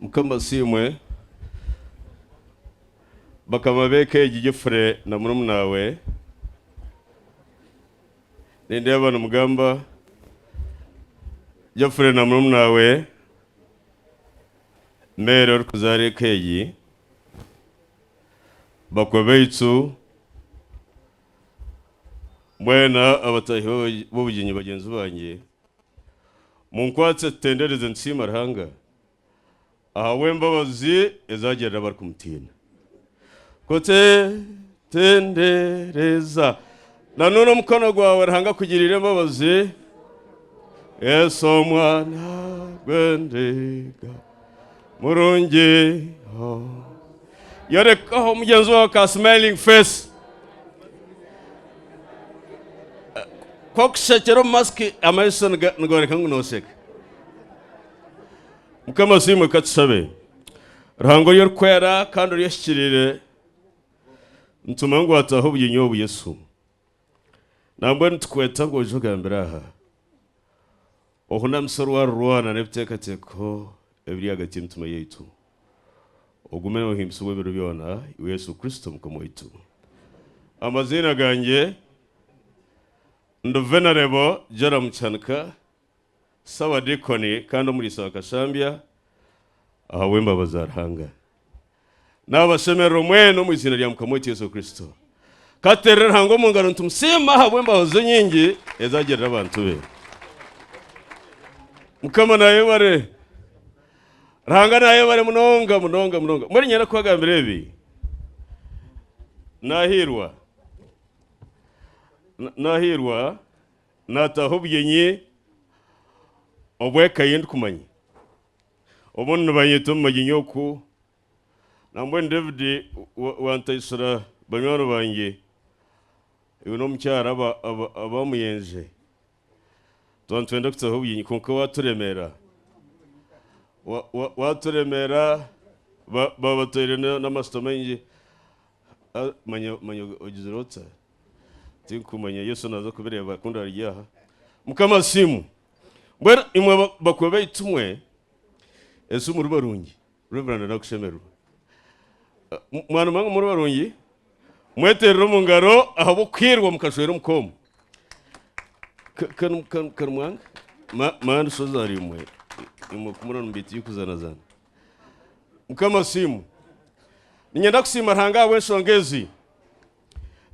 Mukama asiimwe. Bakama b'eka egi Geoffrey na murumuna we, nindeeba nimugamba Geoffrey na murumuna we, Mary orikuzaara eka egi, bakwe baitu, Mbwenu abataahi b'obugyenyi bagyenzi bangye, munkwatse tutendereze nitusiima Ruhanga ahabw'embabazi ezi agirira abarikumutiina. Kutendereza. Na n'oru omukono gwawe Ruhanga akugiriire embabazi, Yesu Omwana gw'endiga. murungi oh. yorekaho omugyenzi wawe ka smiling face kokushekera omu masiki amaiso niga- nigoreka ngu noseka mukama siimwe katusabe ruhanga ori orikwera kandi ori ohikiriire nituma ngu ataho obuginyo obu yesu Nangwa nitukweta ngu oije ogambire aha ohunamisa orwarirwa nana ebiteekateeko ebiri ahagati y'emitima yaitu. Ogume nohimbisibwa ebiro byona, iwe Yesu Kristo Omukama waitu. Amaziina gangye, Nduvenarebo Joram Kyanika, Ssabadiikoni kandi Omuriisa wa Kashambya ahabw'embabazi za Ruhanga. Naabashemerera omwena omu iziina rya Mukama waitu Yesu Kristo. Katuteerere Ruhanga omu ngaro nitumusiima ahabw'embabazi ze nyingi ezi agirira abantu be. Mukama naayebare. Ruhanga naayebare munonga munonga munonga. Mbwenu nyenda kubagambira ebi. Naahiirwa. Na- Naahiirwa Naataho obugyenyi obw'eka ei ndikumanya. Obumwe nibanyeta omu magyenyi oku, na mbwenu David wantaitsira banywani bangye iwe n'omukyara abaamuyenje. Tuba nitwenda kutaho obugyenyi kwonka waaturemera. Waaturemera baaba batoire n'amatsito maingi, manya ogizire ota? Tinkumanya Yesu naza kubireba kundi ari aha. Mukama asiimwe. Mbwenu imwe ba- bakuru baitu mwe ensi muri barungi. Reverend nakushemererwa. Ah, m- Mwana mwange muri barungi. Mweterere omu ngaro ahabw'okuhirwa mukashwera omu koomu. Ka- kanu- kanu- kanu mwange. Ma- Mani shoza ari imwe. Imwe kumurora nimubiita iby'okuzanazana. Mukama asiimwe. Ninyenda kusiima Ruhanga ahabw'enshonga ezi.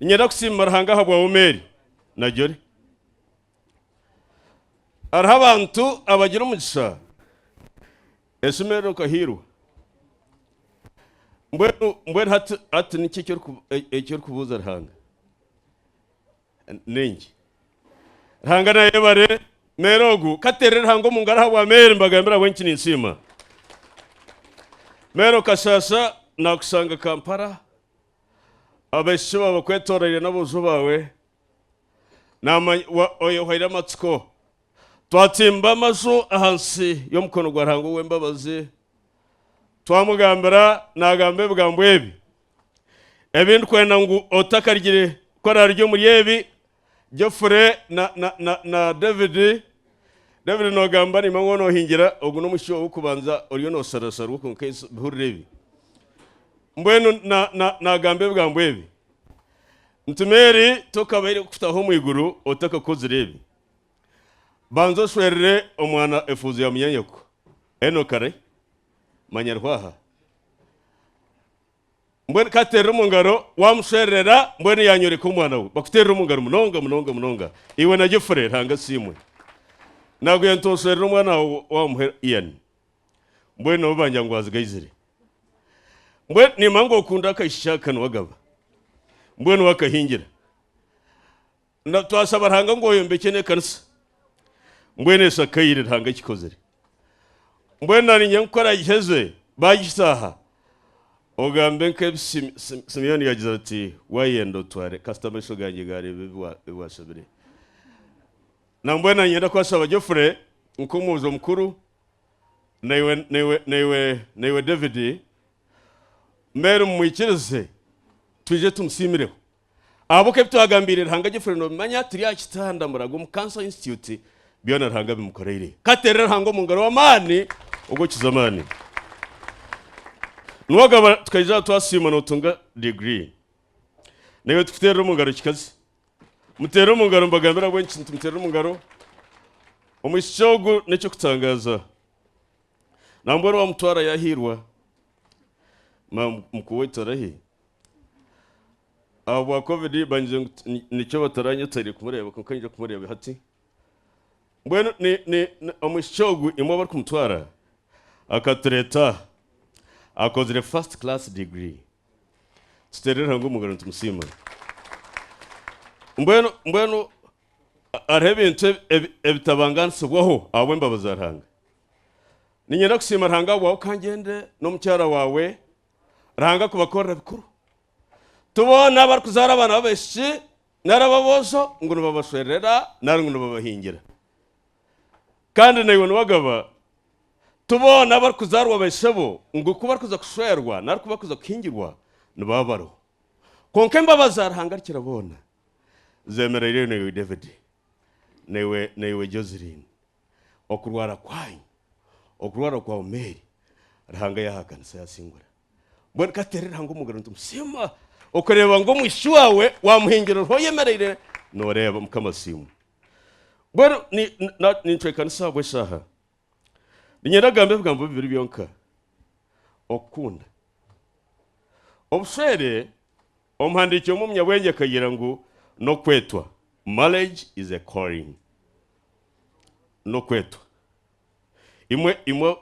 Ninyenda kusiima Ruhanga ahabwa Omeeri na Jolly. Hariho abantu abagira omugisha eshemererwa nka Hirwa. Mbwenu mbwenu hati hati niki eki oriku- e- eki orikubuuza Ruhanga? Ningi. Ruhanga nayebare Meere ogu. Kateerere Ruhanga omu ngaro ahabwa Meere mbagambire ahabw'enki eki ninsiima. Meere okashaasha nakushanga Kampala. Abaishiki baawe bakwetooroire n'aboojo baawe, oyehoire amatsiko. Twatsimba amaju ahansi y'omukono gwa Ruhanga ow'embabazi, twamugambira naagamba ebigambo ebi, Ebi ndikwenda ngu otakaryire kukora riri omuri ebi, Geoffrey na, na, na, na David. David nogamba nimba ngu nohingira, ogu n'omushiki wawe w'okubanza oriyo nosarurasarurwa kwonka ensi bihurira ebi. Mbwenu na, na, nagamba ebigambo ebi nti Mary tokabaire kukutaho omu iguru otakakozire ebi. Banza oshwerere omwana efuuzo ya munyanyoko. Enock arai? Manya ariho aha. mbwenu ka ateerere omu ngaro, waamushwererera, mbwenu yaanyoreka omwana we. Bakuteerere omu ngaro munonga munonga munonga. Iwe na Geoffrey, Ruhanga asiimwe. Naagwire nti oshwerere omwana waawe waamuha Ian. Mbwenu nabo bangira ngu waazigaizire. Mbwenu nimanya ngu okunda akaishiki aka niwe agaba. Mbwenu waakahingira. Na twasaba Ruhanga ngu oyombekye n'ekanisa mbwenu eshakaire Ruhanga akikozire mbwenu na niinyenda ngu ku aragiheze bagishaaha ogambe nk'ebi Simeoni yagize ati wayenda otware kasita amaisho gangye gareeba ebi ebi washabire na mbwenu na niinyenda kwashaba Geoffrey nk'omwojo omukuru na iwe na iwe na iwe na iwe David mbwenu mumwikirize twije tumusiimireho Ahabw'oku ebi twagambiire Ruhanga agifire noobimanya, turi aha kitanda murago omu Cancer Institute, byona Ruhanga abimukoreire. Ka tuteerere Ruhanga omu ngaro w'amaani ogw'okukiza amaani. Niwe ogaba tukaija twasiima nootunga degree. Naiwe tukuteerere omu ngaro kikazi. Muteere omu ngaro mbagambire ahabw'enki nitumuteerera omu ngaro. Omwishiki ogu n'eky'okutangaaza. Nambwenu waamutwarayo ahairwa, ma mukuuwe torahi? Ahabwa covid bangire ngu ti- ni- nikyo bataranyeteire kumureeba kwonka ninyija kumureeba hati mbwenu ni- ni- ni- omwishiki ogu imwe abarikumutwara akatureeta aha akozire first class degree tuteerere Ruhanga omu ngaro nitumusiima mbwenu mbwenu hariho ebintu ebi- ebi- ebitabanganisibwaho ahabw'embabazi za Ruhanga niinyenda kusiima Ruhanga ahabwawe okangyendere n'omukyara waawe Ruhanga kubakorera bikuru. Ti boona abarikuzaara abaana b'abaishiki nari ab'aboojo ngu nibabashwerera nari ngu nibabahingira. Kandi naiwe niwagaba, ti boona abarikuzaarwa baishebo ngu ku barikuza kushwerwa nari ku barikuza kuhingirwa nibaba bariho. Kwonka embabazi za Ruhanga Arikira Boona zeemereireyo naiwe David, naiwe Joseline. okurwara kwanyu, okurwara kwa Omeeri, Ruhanga yahakanisa yasingura. Mbwenu ka tuteere Ruhanga omu ngaro nitumu siima okureeba ngu omwishiki waawe wamuhingira oriho oyemereire nooreeba. Mukama asiimwe. Mbwenu nincwekanisa ahabw'eshaaha. Niinyenda kugambe ebigambo bibiri byonka. Okukunda. Obushwere. Omuhandiiki omwe omunyabwengye akagira ngu n'okwetwa, Marriage is a calling. N'okwetwa. Imwe, imwe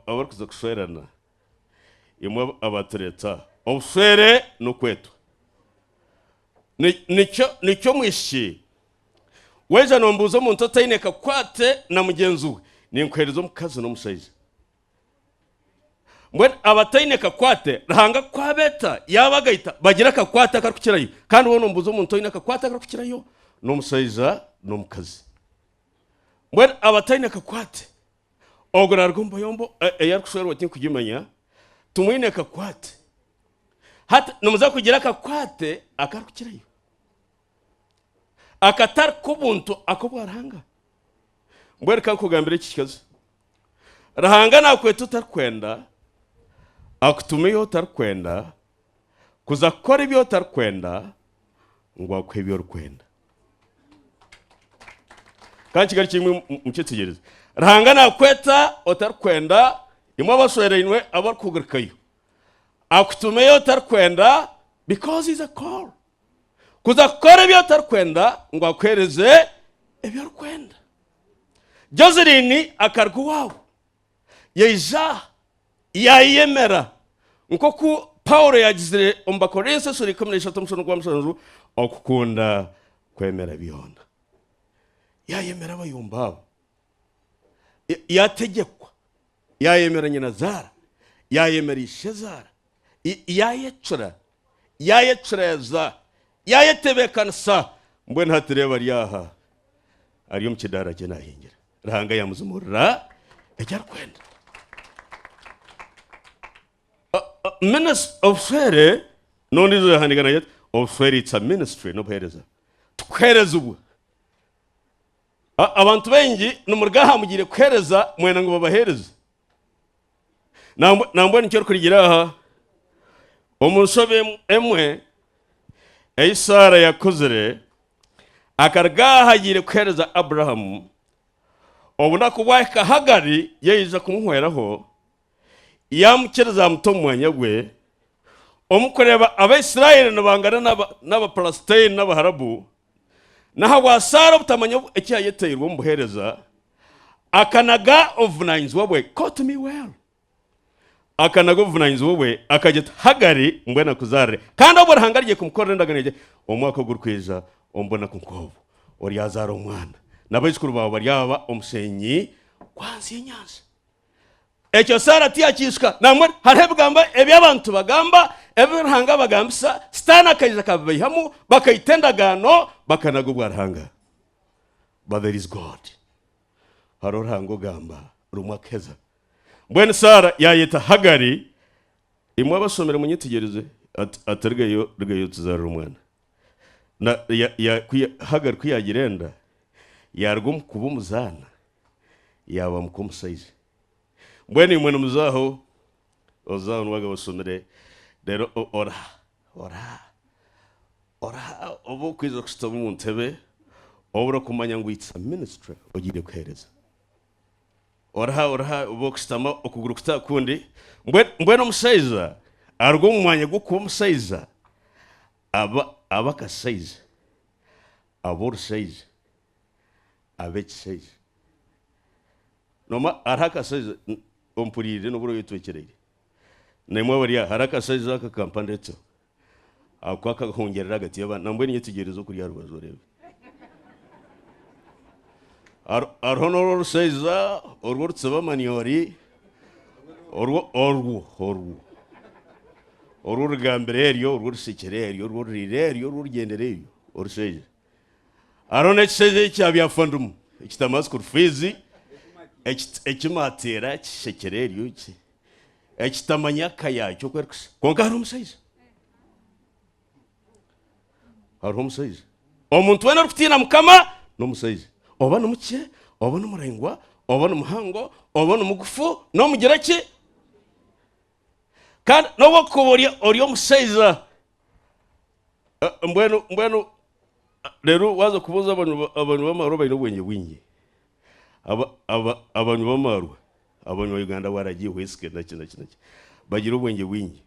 abarikuza kushwerana, imwe abatureta, obushwere n'okwetwa. Nikyo, nikyo omwishiki, waija nombuuza omuntu otaine kakwate na mugyenzi we, ninkuheereza omukazi n'omushaija. Mbwenu abataine kakwate, Ruhanga ku abeeta yaabagaita bagira akakwate akarikukirayo. Kandi woona omubuuza omuntu oine akakwate akarikukirayo, n'omushaija n'omukazi. Mbwenu abataine kakwate, ogwo naaruga omu bayombo e- ei arikushwerwa tinkugimanya, timwine kakwate. Hati nimuza kugira akakwate akarikukirayo. akatari k'obuntu ak'obwa Ruhanga? Mbwenu reka nkugambire eki kikazi. Ruhanga nakweta otarikwenda, akutuma ei otarikwenda, kuza kukora ebi otarikwenda, ngu akuhe ebi orikwenda. Kandi kigari kimwe mukyetegereze. Ruhanga nakweta otarikwenda, imwe abashwereinwe abarikuhugurikayo. Akutuma ei otarikwenda because is a call. kuza kukora ebi otarikwenda ngu akuheereze ebi orikwenda. Joselyn akaruga owaabu yaija yaayeyemera, nk'oku Paulo yaagizire omu Bakorinso esura ikumi n'eishatu omushano gwa mushanju, okukunda kwemera byona. Yaayemera abayombi abo, yaategyekwa. Yaayemera nyinazaara, yaayemera ishezaara, yaayecura, yaayecureza, yaayetebeekanisa, mbwenu hati reeba ari aha, ari omu kidaara kye naahingira. Ruhanga yaamuzimuurira eki arikwenda. Obushwere n'ondiijo yahandiika nagira ati, obushwere it's a ministry, n'obuheereza. Tukuheerezibwa. Abantu baingi nimuruga aha mugiire kuheereza mwena ngu babaheereze. Nambwenu nikyo orikurigira aha omu nshobe emwe ei Saara yakozire. Akaruga aha agiire kuheereza Abrahamu, obunaku bwahika Hagari yaija kumuhweraho, yaamukiriza amuta omu mwanya gwe. Omu kureeba Abaisraeli nibangana n'Abapalasitaini n'Abaharabu, N'ahabwa Saara obutamanya eki yayeteirwe omu buheereza, akanaga obuvunanyizibwa bwe. Quote me well. Akanaga obuvunanyizibwa bwe, akagira ati, Hagari, mbwenu akuzaarire. Kandi obwo Ruhanga arigye kumukorera endagano egye, omwaka ogurikwija omu bunaku nk'obwo, oryazaara omwana, n'abaijukuru baawe baryaba omusheenyi gwa nsi y'enyanja. Ekyo Saara tiyakiijuka. Nambwenu hariho ebigambo ebi abantu bagamba, ebi Ruhanga abagambisa, Sitaane akaija akabibaihamu, bakaita endagaano, bakanaga obwa Ruhanga. But there is God. Hariho Ruhanga ogamba, rumwe akaheza. Mbwenu Saara yaayeta Hagari, imwe abashomire munyetegyereze, ati, ati Rugayo, rugayo otuzaarire omwana. Na, ya, ya, ku ya, Hagari ku yaagira enda, yaaruga omu kuba omuzaana, yaaba muka omusaija. Mbwenu imwe nimuza aho, oza aho niwagamba osomire, reero oraha, oraha, oraha obu okwija kushutama omu ntebe, obu orikumanya ngu it's a ministry ogiire kuheereza. Oraha, oraha obu orikushutama okuguru kuti aha kundi, mbwenu, mbwenu omushaija aruga omu mwanya gw'okuba omushaija aba, aba akashaija, aba orushaija. ab'ekishaija. Noomwe hariho akashaija ompuriire n'obu oraabe oyetwekyereire. Naimwe abari aha, hariho akashaija aka ka mpandeeteho aku akahongyerera ahagati y'abandi. Nambwenu yetegyereze okuri aha rubaju oreebe. Hariho n'oru orushaija oru orutsiba amanyori, orwo, orwo, orwo, orwo origambira eryo, orwo orishekire eryo, orwo oririire eryo, orwo origyendera eryo, orushaija. Hariho n'ekishaija ekya byafundimu ekitama school fees ekimateera kishekire eryo ki ekitamanya eka yaakyo oku erikushusha kwonka hariho omushaija hariho omushaija omuntu weena orikutiina mukama n'omushaija oba nimukye oba nimuraingwa oba nimuhango oba nimugufu n'omugire ki. kandi n'obu okuba ori ori omushaija eh, mbwenu mbwenu ah, rero waza kubuuza abanywi ba- abanywi b'amaarwa baine obwengye bwingi Aba- aba- abanywi b'amaarwa abanywi ba uganda waragi whisky naki naki naki bagira obwengye bwingi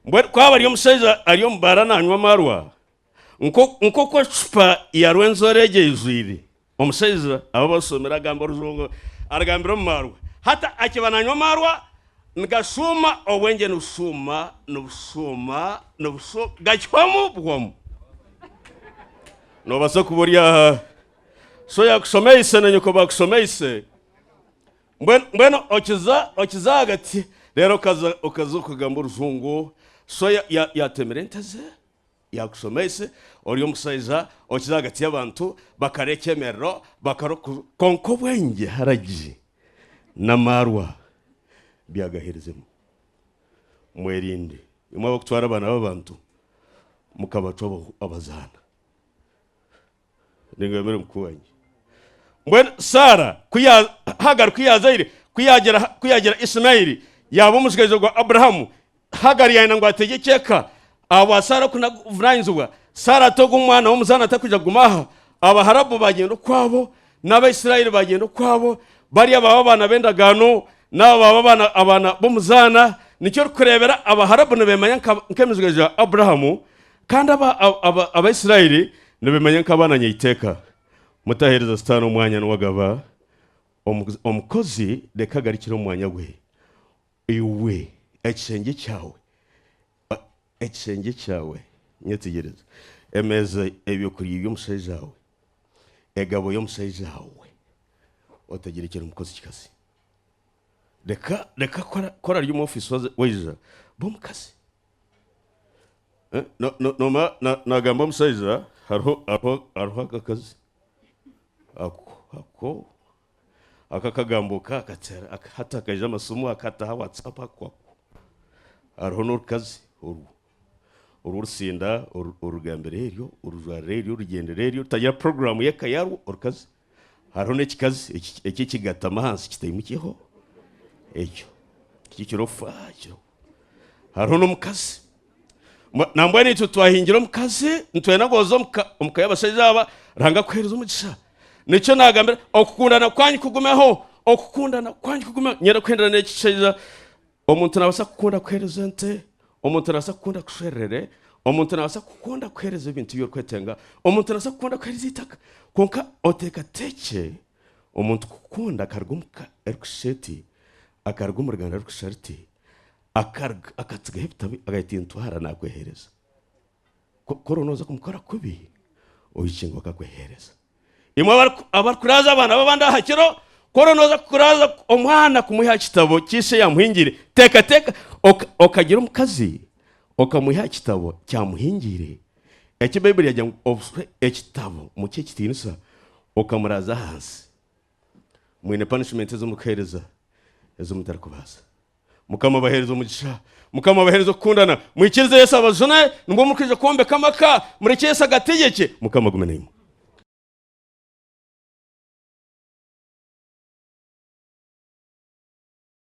mbwenu ku aba ari omushaija ari omu baara nanywa amaarwa Nk'oku ecupa ya rwenzori egyo eijwire, omushaija aba abashomire agamba orujungu, arugambira omu maarwa. Hati akiba nanywa amaarwa, nigashuuma, obwengye nibushuuma, nibushuuma, nibushuuma, gakihwamu buhwamu. Nobaasa kuba ori aha, sho yakushomeise na nyoko baakushomeise, mbwenu okiza, okiza ahagati, reero okaza, okaza okagamba orujungu, sho yatemire ente ze, Yaakushomeise ori omushaija okize ahagati y'abantu, bakarya ekyemerero, bakarya oku. Kwonka obwengye haragi n'amaarwa byagaherizemu. Mwerinde, imwe abakutwara abaana b'abantu mukabacwa abazaana. Ningamira muka wangye. Mbwenu Saara ku ya, Hagari ku yaazaire, ku yaagira, ku yaagira Isimaeli yaaba omutsigazi ogwa Abrahamu, Hagari yaayenda ngu ategyekye eka. Ahabwa Saara okunaguvunanyizibwa, Saara atooga omwana w'omuzaana atakwija kuguma aha. Abaharabu baagenda okwabo, n'Abaisiraeli baagenda okwabo, bariya baaba abaana b'endagaano, n'aba baaba abaana, abaana b'omuzaana. Nikyo orikureebera Abaharabu nibeemanya nka, nk'emiziga ya Abrahamu, Kandi Abaisraeli nibemanya nk'abaana nyeiteka. Mutaheereza Sitaane omwanya niwe agaba omukozi, reka agarukire omu mwanya gwe. Iwe ekishengye kyawe, ekishengye kyawe, nyetegyereza, emeeza y'eby'okurya eby'omushaijawe, egabo y'omushaijawe, otegyerekyere omukozi kikazi. Reka, reka ku arari omu ofiisi waija, ba omukazi. Eh, no- no- nomara na- nagamba omushaija hariho hariho- hariho akakazi ako ako ako akagambo ka akakyara aka- hati akaija amasimu akataha whatsapp ako ako hariho n'orukazi orwo orwo orusinda oru- orugambira eryo orujwarira eryo orugyendera eryo rutagira puroguramu y'eka yarwo orukazi Hariho n'ekikazi eki ekigatama ahansi kitaimukyeho ekyo tikyo kiroofa kiro. Hariho n'omukazi nambwenu itwe twahingire omukazi nitwenda ngu oze omuka y'abashaija aba Ruhanga akuheereze omugisha. Nikyo naagambira okukundana kwanyu kugumeho, okukundana kwanyu kugumeho. Niinyenda kuhendera n'ekishaija Omuntu naabaasa kukunda kuheereza ente, omuntu naabaasa kukunda kushwererera, omuntu naabaasa kukunda kuheereza ebintu ebi orikwetenga, omuntu naabaasa kukunda kuheereza eitaka. Kwonka oteekateekye omuntu kukunda akaruga omu ka erikushusha eti, akaruga omu ruganda rurikushushana ruti, akaruga akatsigaho ebitabi akagira ati ntwara naakweheereza. Ku ku oriho nooza kumukora kubi, oikingwa akakweheereza. Imwe abarikuraaza abaana b'abandi aha kiro, ku oriyo nooza kuraaza omwana kumwiha aha kitabo ki ishe yaamuhingire, teekateeka okagira omukazi okamwiha aha kitabo kyamuhingire, eki Baibuli yaagira ngu obuswe ekitabo, mukihe ekitiinisa, okamuraaza ahansi. Mwine punishment ezimurikuhereza ezimutarikubaasa. Mukama abahereze omugisha. Mukama abahereze okukundana. Mwikirize Yesu abajune nibwo murikuija kwombeka amaka. Murekye Yesu agategekye. Mukama agume naimwe.